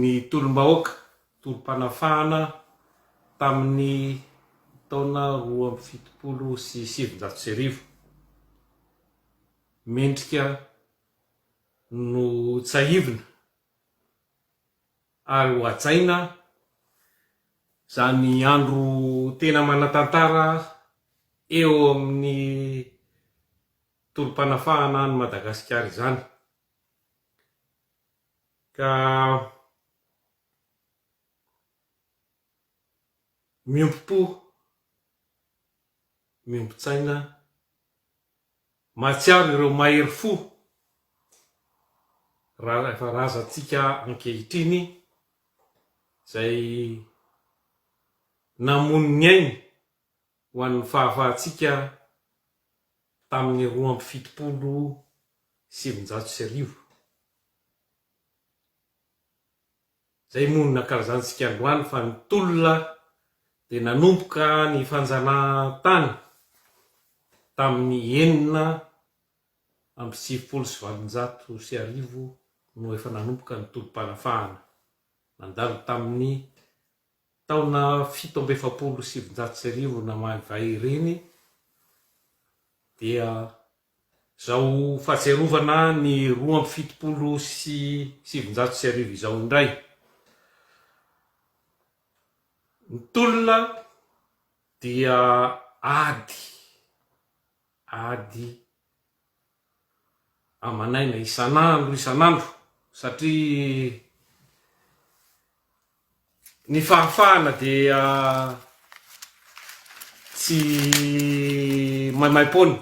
ny tolom-bahoaka, tolom-panafahana tamin'ny taona roa amby fitopolo sy sivinjato sy arivo. Mendrika no tsahivina ary ho hajaina izany andro tena manan-tantara eo amin'ny tolom-panafahana an'i Madagasikara izany. Ka miombom-po, miombon-tsaina, mahatsiaro ireo mahery fo efa razantsika ankehitriny izay namono ny ainy Ho an'ny fahafahantsika tamin'ny roa amby fitopolo sy sivinjato sy arivo, izay moa nankalazantsika androany fa ny tolona dia nanomboka ny fanjanahantany tamin'ny enina amby sivifolo sy valonjato sy arivo no efa nanomboka ny tolom-panafahana nandalo tamin'ny Taona fito amby efapolo sy sivinjato sy arivo namaly vay ireny dia izao fahatsiarovana ny roa amby fitopolo sy sivinjato sy arivo izao indray. Ny tolona dia ady, ady aman'aina isan'andro isan'andro satria ny fahafahana dia tsy maimaim-poana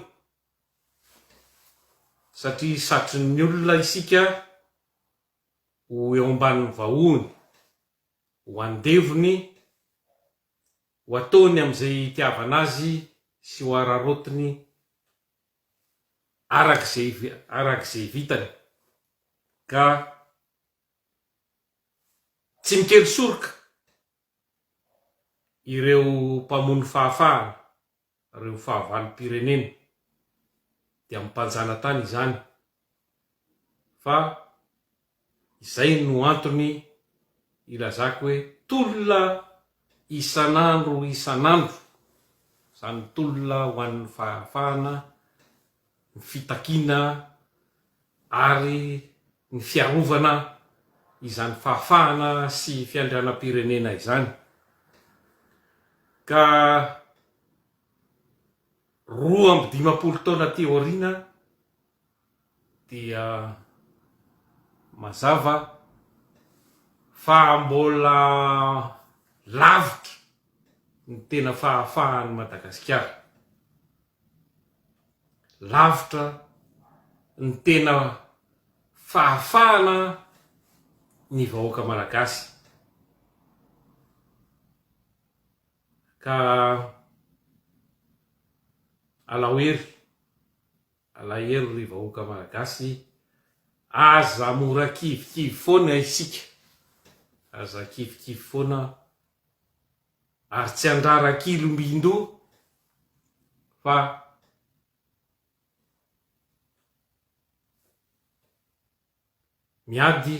satria satrin'ny olona isika ho eo ambanin'ny vahohony, ho andevony, ho ataony amin'izay itiavana azy sy ho araraotiny. araka izay araka izay vitany ka tsy mikely soroka ireo mpamono fahafahana ireo fahavalom-pirenena dia amim-panjanatany izany fa izay no antony ilazako hoe tolona isan'andro isan'andro, izany tolona ho an'ny fahafahana, ny fitakiana ary ny fiarovana izany fahafahana sy fiandrianam-pirenena izany ka. Roa amby dimampolo taona aty aoriana dia mazava fa mbola lavitra ny tena fahafahan'i Madagasikara, lavitra ny tena fahafahana ny vahoaka malagasy. Ka alao hery, alahery ry vahoaka Malagasy, aza mora kivikivy foana isika, aza kivikivy foana ary tsy andrara kilombindoha fa miady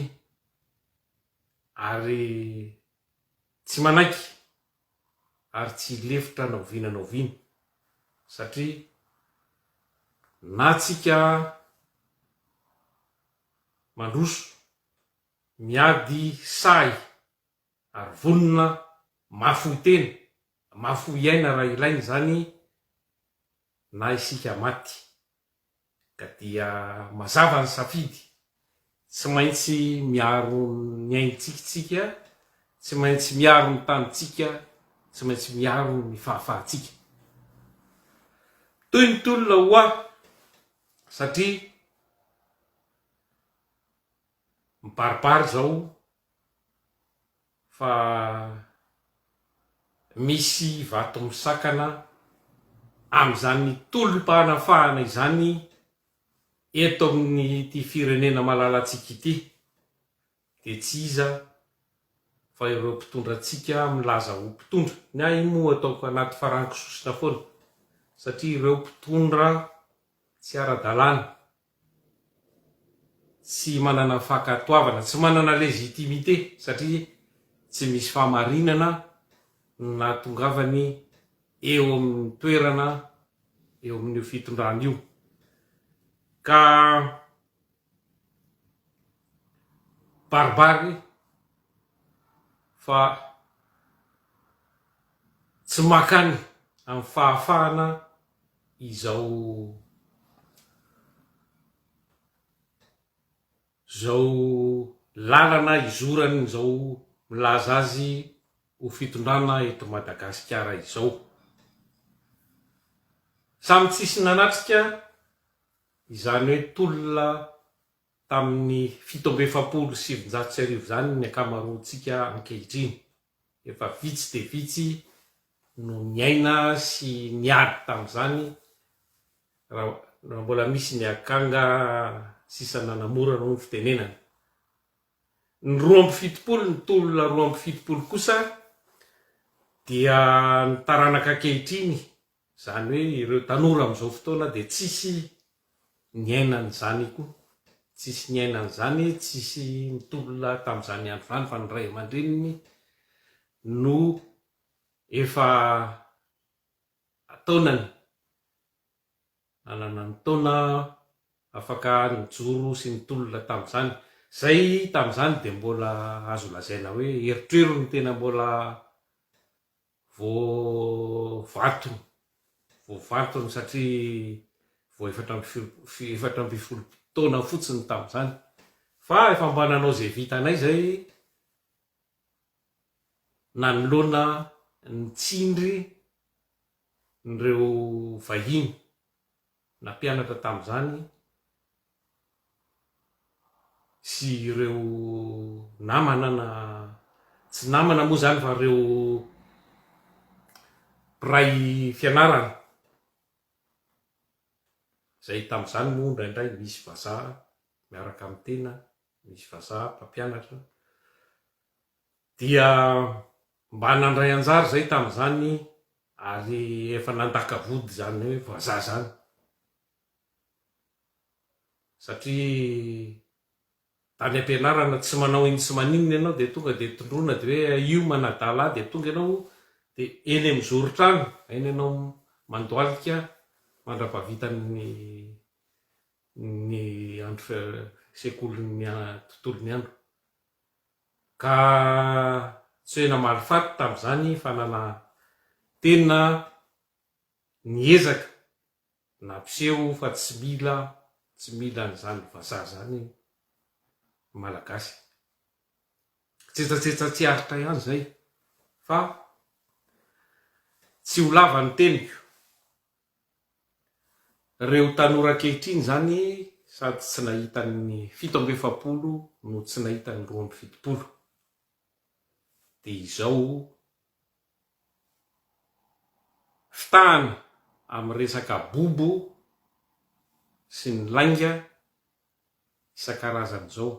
ary Tsy manaiky ary tsy hilefitra na oviana na oviana satria na tsika mandroso, miady sahy ary vonona mafy fohy tena, mafy fohy aina raha ilaina izany na isika maty. Ka dia mazava ny safidy, tsy maintsy miaro ny aintsika isika, tsy maintsy miaro ny tanintsika, tsy maintsy miaro ny fahafahantsika. Mitohy ny tolona ho ahy satria mibaribary izao fa misy vato misakana amin'izany tolom-panafahana izany eto amin'ity firenena malalantsika ity dia tsy iza fa ireo mpitondra antsika milaza ho mpitondra, ny ahy moa ataoko anaty farankisosona foana satria ireo mpitondra tsy ara-dalàna. tsy manana fankatoavana, tsy manana légitimité satria tsy misy fahamarinana no nahatongavany eo amin'ny toerana eo amin'io fitondrana io ka baribary fa tsy mankany amin'ny fahafahana izao izao lalana izorany izao milaza azy ho fitondrana eto Madagasikara izao. Samy tsisy nanatrika izany hoe tolona tamin'ny fito amby efapolo sy sivinjato sy arivo izany ny ankamaroantsika ankehitriny. Efa vitsy dia vitsy no niaina sy niady tamin'izany, raha mbola misy ny akanga sisa nanamora hono ny fitenenana. Ny roa amby fitopolo, ny tolona roa amby fitopolo kosa dia ny taranaka ankehitriny Izany hoe ireo tanora amin'izao fotoana dia tsisy niaina an'izany koa. Tsisy niaina an'izany, tsisy nitolona tamin'izany andro izany fa ny ray aman-dreniny no efa an-taonany, nanana ny taona afaka nijoro sy nitolona tamin'izany. Izay tamin'izany dia mbola azo lazaina hoe erotrerony tena mbola Voavalitony, voavalitony satria vao efatra amby folo, efatra ambin'ny folo taona fotsiny tamin'izany, fa efa mba nanao izay vitanay izay nanoloana ny tsindry ireo vahiny. Nampianatra tamin'izany sy ireo namana na tsy namana moa izany fa ireo mpiray fianarana izay tamin'izany moa indraindray misy vazaha miaraka amin'ny tena, misy vazaha mpampianatra Dia mba nandray anjara izahay tamin'izany ary efa nandaka vody izany hoe vazaha izany satria tany am-pianarana tsy manao inn sy maninona ianao dia tonga dia tondroina dia hoe aio manadala ahy dia tonga ianao dia eny amin'ny zoron-trano aina ianao mandoalika mandrapahavitan'ny ny andro sekolin'ny tontolon'ny andro. Ka tsy hoe namaly faty tamin'izany fa nanantena niezaka nampiseho fa tsy mila tsy mila an'izany vazaha izany ny Malagasy. Tsetsatsetsa tsy aritra ihany izay fa tsy ho lava ny teniko Reo tanora ankehitriny zany sady tsy nahita ny fito amby efapolo no tsy nahita ny roa amby fitopolo de izao fitahana amin'ny resaka bobo sy ny lainga isan-karazany zao.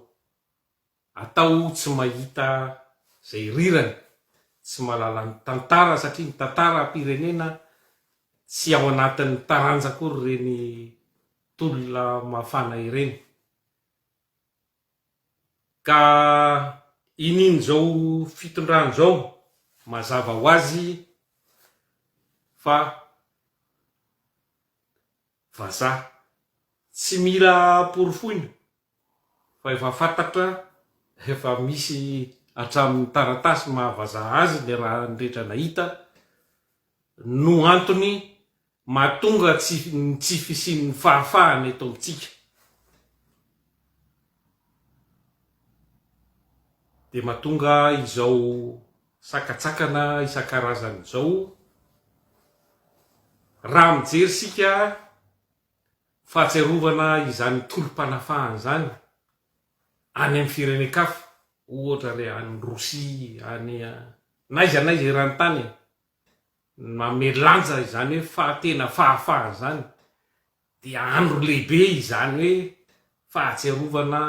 Atao tsy mahita zay rirany, tsy mahalala ny tantara satria ny tantara pirenena tsy ao anatin'ny taranja akory ireny tolona mafana ireny. Ka inin zao fitondran zao mazava ho azy fa Vazaha. Tsy mila porofoina fa efa fantatra, efa misy hatramin'ny taratasy maha vazaha azy ny raha rehetra nahita no antony mahatonga tsy ny tsy fisian'ny fahafahana eto amintsika. Dia mahatonga izao Sakantsakana isan-karazany izao raha mijery isika fahatsiarovana izany tolom-panafahana izany any amin'ny firenen-kafa, ohatra re any Rosia, any n'aiza n'aiza eran-tany e! Manome lanja izany hoe faha-tena fahafahana izany. Dia andro lehibe izany hoe fahatsiarovana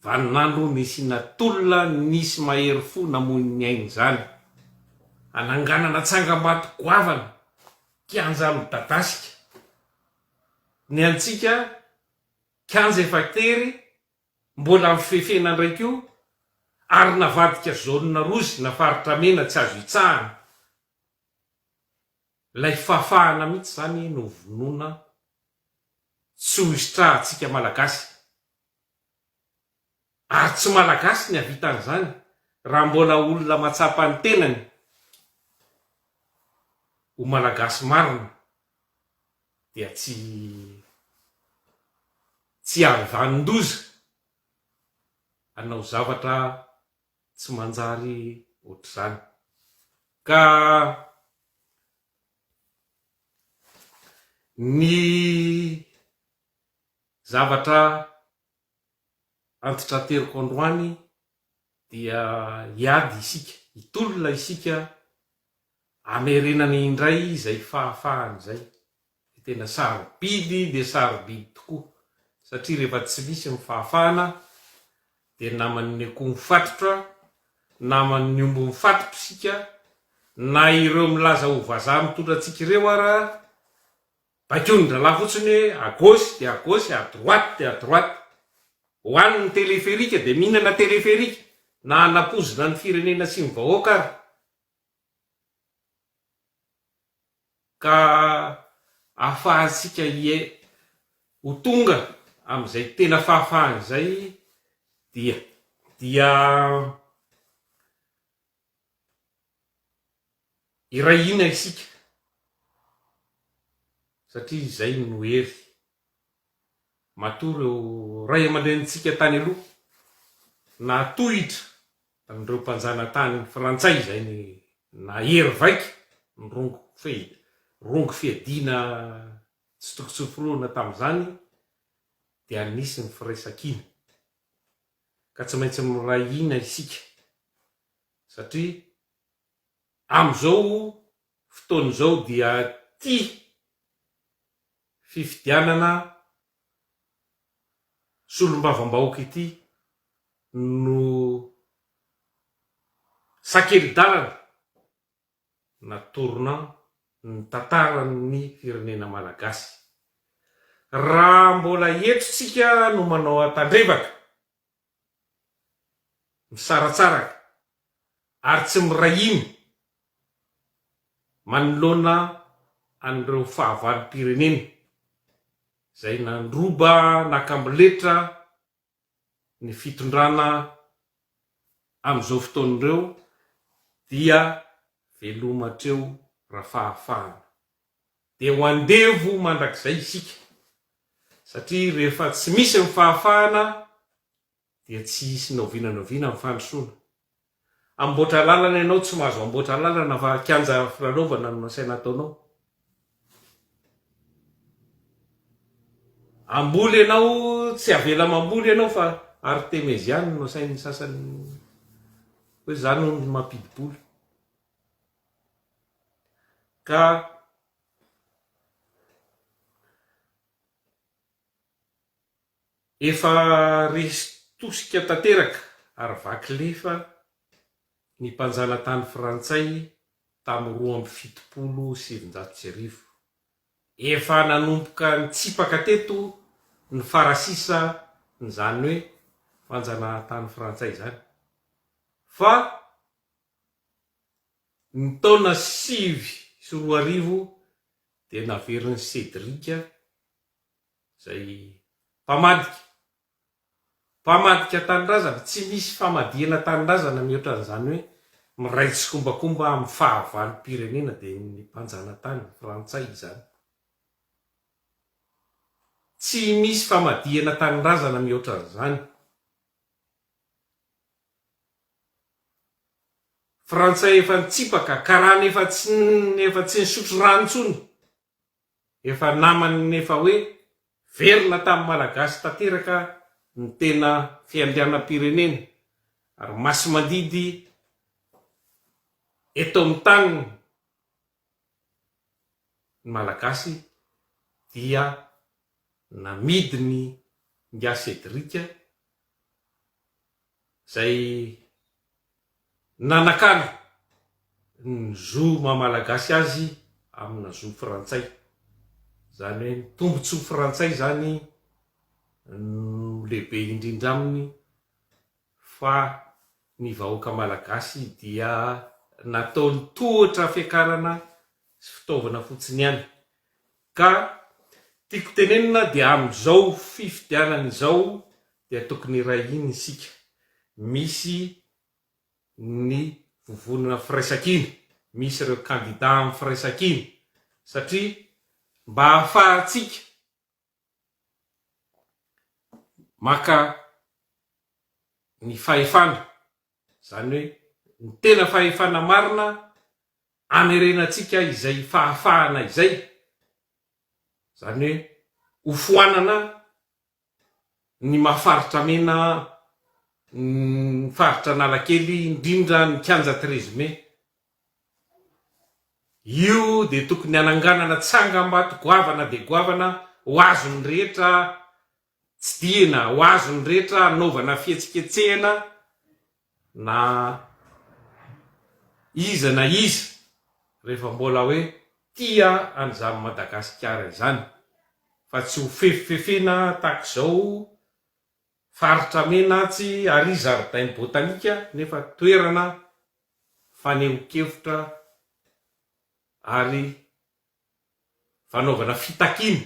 vaninandro nisiana tolona nisy mahery fo namoy ny ainy izany. Hananganana tsangambato goavana, kianja midadasika. Ny antsika, kianja efa tery, mbola amin'ny fifefena indray koa, ary navadika zone rozy na faritra mena tsy azo hitsahana. Ilay fahafahana mihitsy izany no vonoina tsy ho hisitrahantsika Malagasy. Ary tsy Malagasy ny havita an'izany raha mbola olona matsapa ny tenany ho Malagasy marina dia tsy tsy hany vanon-doza hanao zavatra tsy manjary ohatr'izany. Ka ny zavatra antitranteriko androany dia hiady isika, hitolona isika Hamerenany indray izay fahafahany izay. Dia tena sarobidy dia sarobidy tokoa, satria rehefa tsy misy ny fahafahana dia naman'ny akoho mifatotra, naman'ny omby mifatotra isika, na ireo milaza ho vazaha mitondra antsika ireo ara, baikonin-drahalahy fotsiny hoe à gauche dia à gauche, à droite dia à droite. Ho any ny téléphérique dia mihinana téléphérique, na hanapozina ny firenena sy ny vahoaka ara. Ka ahafahantsika hiai ho tonga amin'izay tena fahafahana izay dia dia iray hina isika satria izay no hery Matoa ireo ray aman-drenintsika tany aloha nahatohitra an'ireo mpanjanatany frantsay izay nahery vaika ny rongo rongo fiadiana tsy toko tsy forohina tamin'izany dia nisy ny firaisankina ka tsy maintsy miray hina isika satria amin'izao fotoana izao dia tia fifidianana solombavambahoaka ity no sakeli-dalana na tournant ny tantaran'ny firenena malagasy. Raha mbola eto tsika no manao an-tandrevaka misaratsaraka ary tsy miray hina manoloana an'ireo fahavalom-pirenena izay nandroba nakamboletra ny fitondrana amin'izao fotoana ireo dia veloma hatreo rafahafahana. dia ho andevo mandrakizay isika, satria rehefa tsy misy ny fahafahana dia tsy hisy ny oviana na oviana ny fandrosoana. Amboatra lalana ianao tsy mahazo amboatra lalana fa kianja filalaovana no nasaina ataonao. Hamboly ianao tsy avela mamboly ianao fa artemeziana no asain'ny sasany hoe za no mampidi-bola. Ka efa resy tosika tanteraka ary vaky lefa ny mpanjanatany frantsay tamin'ny roa amby fitopolo sy sivinjato sy arivo. Efa nanomboka nitsipaka teto ny farasisa n'izany hoe fanjanahantany frantsay izany. Fa. Ny taona sivy sy roa arivo dia naverin'i Cédric, izay mpamadika, mpamadika tanindrazana, tsy misy famadihana tanindrazana mihoatra an'izany hoe miray tsikombakomba amin'ny fahavalom-pirenena dia ny mpanjanatany frantsay izany. Tsy misy famadihana tanindrazana mihoatra an'izany. Frantsay efa nitsipaka, karana efa tsy efa tsy nisotro rano intsony, efa naman'ny efa hoe velona tamin'ny Malagasy tanteraka ny tena fiandrianam-pirenena ary masimandidy eto amin'ny taniny ny Malagasy dia namidiny Ingahy Cédric izay nanakana ny zo maha Malagasy azy amina zo frantsay, izany hoe ny tombotsoa frantsay izany no lehibe indrindra aminy fa ny vahoaka Malagasy dia nataony tohatra fiakarana sy fitaovana fotsiny ihany, ka tiako tenenina dia amin'izao fifidianana izao dia tokony iray hina isika. Misy ny vovonana firaisankina, misy ireo kandida amin'ny firaisankina satria mba hahafahantsika maka ny fahefana, izany hoe ny tena fahefana marina hamerenantsika izay fahafahana izay, izany hoe hofoanana ny maha faritra mena ny faritra Analakely indrindra ny kianja treize mai. Io dia tokony hananganana tsangambato goavana dia goavana ho azon'ny rehetra tsidihina, ho azon'ny rehetra hanaovana fihetsiketsehana na iza na iza rehefa mbola hoe tia an'izany Madagasikara izany fa tsy ho fefifefena tahaka izao faritra mena atsy ary zaridainy botanika nefa toerana fanehonkevitra ary fanaovana fitakiana,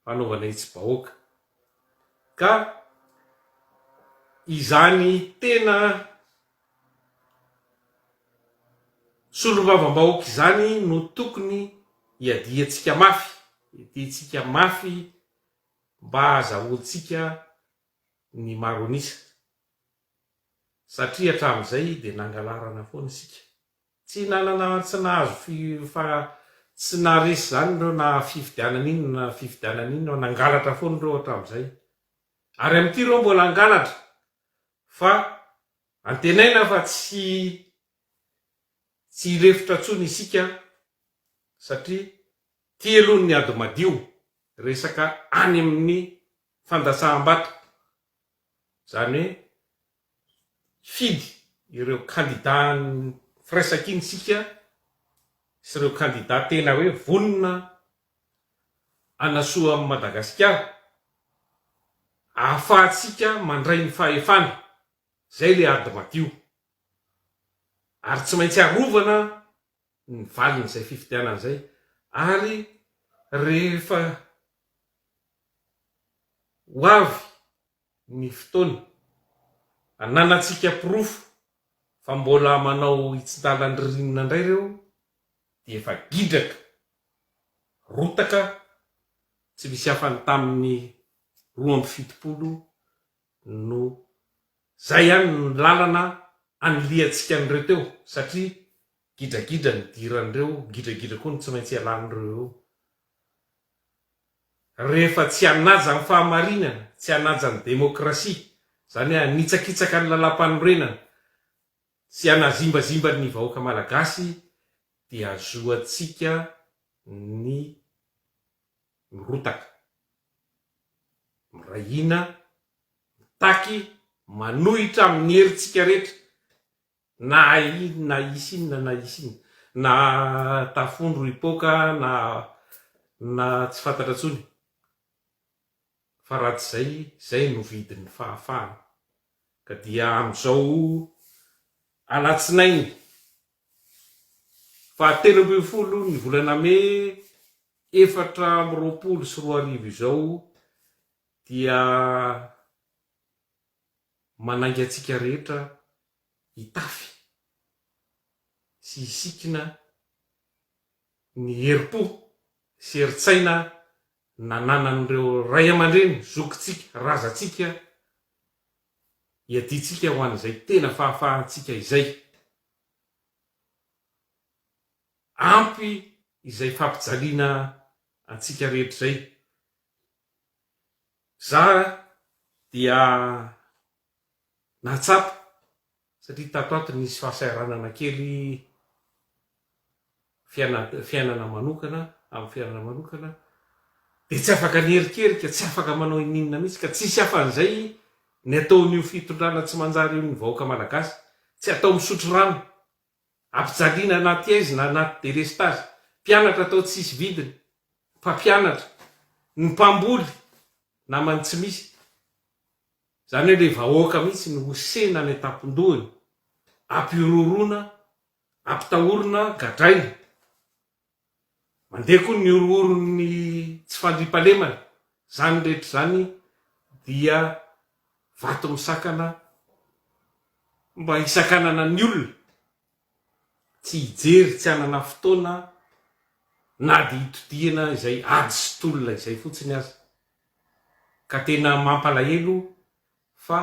fanaovana hetsi-bahoaka. Ka izany tena solombavambahoaka izany no tokony hiadiantsika mafy, hiadiantsika mafy mba hahazahoantsika ny maro an'isa. Satria hatramin'izay dia nangalarana foana isika. Tsy nanana tsy nahazo fi fa tsy naharesy zany ireo na fifidianana inona na fifidianana inona nangalatra foana ireo hatramizay ary amin'ity ireo mbola hangalatra fa antenaina fa tsy tsy hirefotra tsony isika satria ty aloha ny ady madio resaka any amin'ny fandatsaham-bato izany hoe hifidy ireo kandida firaisankina isika sy ireo kandida tena hoe vonona hanasoa an'i Madagasikara ahafahantsika mandray ny fahefana, izay ilay ady madio ary tsy maintsy arovana ny valin'izay fifidianana izay ary rehefa ho avy ny fotoana ananantsika porofo fa mbola manao hitsintalan'ny ririnina indray ireo dia efa gindraka, rotaka tsy misy hafany tamin'ny roa amby fitopolo no zay ihany ny lalana anilihantsika an'ireo teo satria gidragidra ny diran'ireo, gidragidra koa no tsy maintsy ialan'ireo eo. Rehefa tsy hanaja ny fahamarinana, tsy hanaja ny demokrasia, zany hoe hanitsakitsaka ny lalampanorenana sy hanazimbazimba ny vahoaka malagasy dia azoantsika ny mirotaka, miray hina, mitaky, manohitra amin'ny herintsika rehetra, na in, na hisy inona na hisy inona, na tafondro hipoaka na na tsy fantatra intsony. fa raha tsy izay, izay no vidin'ny fahafahana. Ka dia amin'izao alatsinainy fahatelo ambin'ny folo ny volana mey efatra amby roapolo sy roa arivo izao dia manainga antsika rehetra hitafy sy hisikina ny herim-po sy herin-tsaina nananan'ireo ray aman-dreny, zokintsika, razantsika, iadiantsika ho an'izay tena fahafahantsika izay. Ampy izay fampijaliana antsika rehetra izay. Zara dia. nahatsapa satria tato ato nisy fahasahiranana kely fiainana manokana amin'ny fiainana manokana dia tsy afaka niherikerika, tsy afaka manao ininona mihitsy ka tsisy hafa an'izay ny ataon'io fitondrana tsy manjary io ny vahoaka malagasy, tsy atao misotro rano, ampijaliana anaty aizina, anaty delestazy, mpianatra atao tsisy vidiny, mpampianatra, ny mpamboly, namany tsy misy. Izany hoe ilay vahoaka mihitsy no hosehina any an-tampon-dohany, ampihorohoroana, ampitahorina, gadraina. Mandeha koa ny horohoron'ny tsy fandriampahalemana. Izany rehetra izany dia vato misakana mba hisakanana ny olona. tsy hijery tsy hanana fotoana na dia hitodihana izay ady sy tolona izay fotsiny aza. Ka tena mampalahelo fa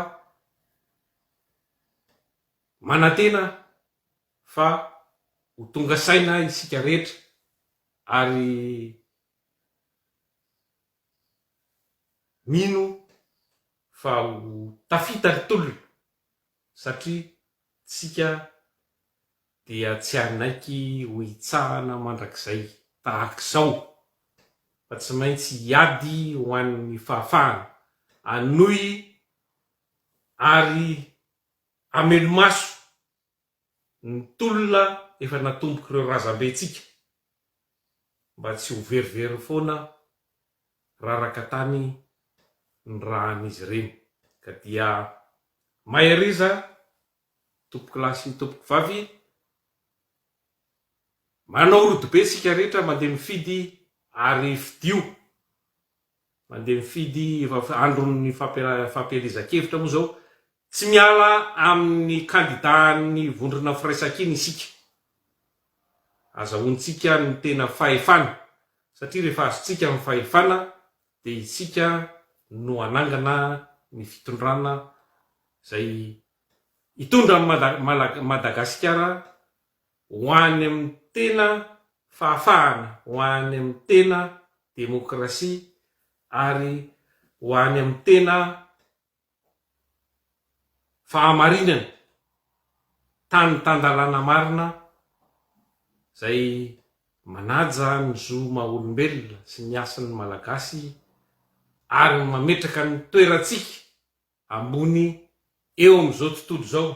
manantena fa ho tonga saina isika rehetra ary mino fa ho tafita ny tolona satria tsika dia tsy hanaiky ho hitsahana mandrakizay tahaka izao, fa tsy maintsy hiady ho an'ny fahafahana hanohy ary hamelo-maso ny tolona efa natombok'ireo razambentsika. mba tsy ho verivery foana raraka tany ny ràn'izy ireny ka dia maheriza tompokolahy sy tompokovavy manao rodobe isika rehetra mandeha mifidy ary fidio Mandeha mifidy andron'ny fampielezan-kevitra moa izao tsy miala amin'ny kandidàn'ny vondrona firaisankina isika. Azahoantsika ny tena fahefana satria rehefa azontsika ny fahefana dia isika no hanangana ny fitondrana izay hitondra an'i Madagasikara Ho any amin'ny tena fahafahana, ho any amin'ny tena demokrasia ary ho any amin'ny tena fahamarinana, tany tan-dalàna marina izay manaja ny zo maha olombelona sy ny hasin'ny Malagasy ary mametraka ny toerantsika ambony eo amin'izao tontolo izao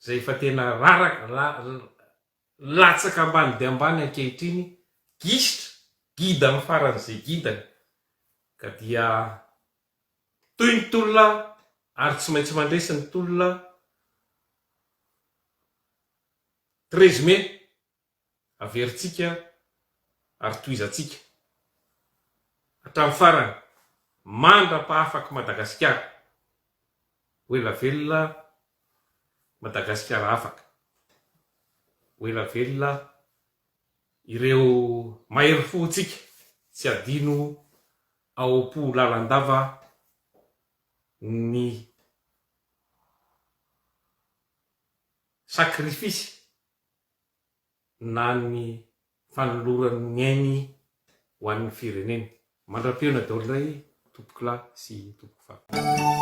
izay efa tena raraka la latsaka ambany dia ambany ankehitriny, gisitra, gida amin'ny faran'izay gidany, ka dia mitohy ny tolona ary tsy maintsy mandresy ny tolona, treize mai. averintsika ary tohizantsika hatramin'ny farany mandra-pahafak'i Madagasikara. Ho ela velona Madagasikara afaka. Ho ela velona ireo mahery fontsika tsy adino ao am-po lalandava ny sakrifisy na ny fanolorany ny ainy ho an'ny fireneny. Mandra-pihaona daholo indray tompoko lahy sy tompoko vavy.